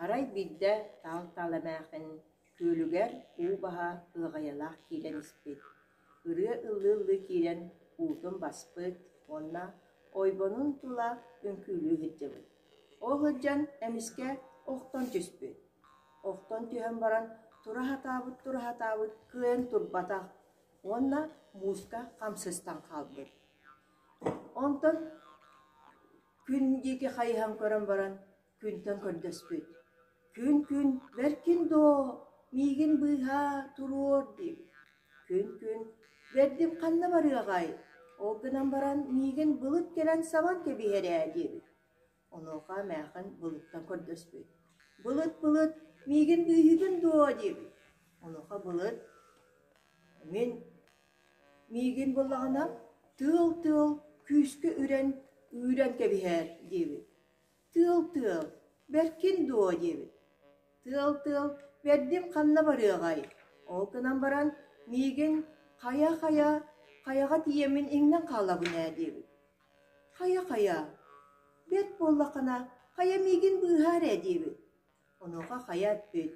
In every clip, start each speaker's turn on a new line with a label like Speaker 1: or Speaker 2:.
Speaker 1: Арай биирдэ Таал Таал эмээхин күөлүгэр уу баһа ыаҕайалаах киирэн испит, ырыа ыллыы-ыллыы киирэн уутун баспыт уонна ойбонун тула үҥкүүлүү сылдьыбыт. Ол сылдьан эмискэ охтон түспүт Охтон түһэн баран тура сатаабыт тура сатаабыт кыайан турбатах уонна мууска хамсыстан хаалбыт. Онтон күн диэки хайыһан көрөн баран күнтэн көрдөспүт. Күн-күн бэркин доо, миигин быыһа туруор диэбит. Күн-күн бэрдим ханна барыаҕай, ол гынан баран миигин былыт кэлэн сабан кэбиһэр ээ диэбит. Онуоха Эмээхин Былыттан көрдөспүт: «Былыт, былыт, миигин күүһүгүн дуо?» диэбит. Онуоха Былыт: «Мин миигин буллаҕына, тыал-тыал күүскэ үрэн, үүрэн кэбиһээр» диэбит. «Тыал-тыал, бэркин дуо?» диэбит. «Тыал-тыал, бэрдим ханна барыаҕай?» Ол гынан баран: «Миигин хайа-хайа, хайаҕа тиийэммин иҥнэн хаалабын ээ» диэбит. Хайа-хайа, бэрт буоллаххына, хайа миигин быыһаар ээ диибит. Онуоха хайа эппит: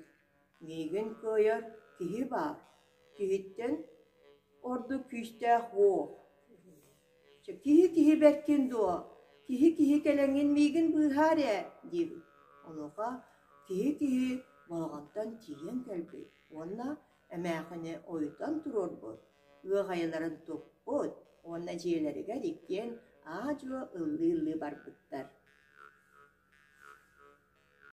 Speaker 1: «Миигин кыайар киһи баар, киһиттэн ордук күүстээх уол. Чэ, киһи киһи бэркин дуо, киһи киһи кэлэҥҥин миигин быыһаар ээ» диибит. Онуоха киһи киһи балаҕаттан тиийэн кэлбит уонна: эмээхини ойутан туруорбут, ыах айыларын туппут уонна дьиэлэригэр иккиэн аа-дьуо ыллыы-ыллыы барбыттар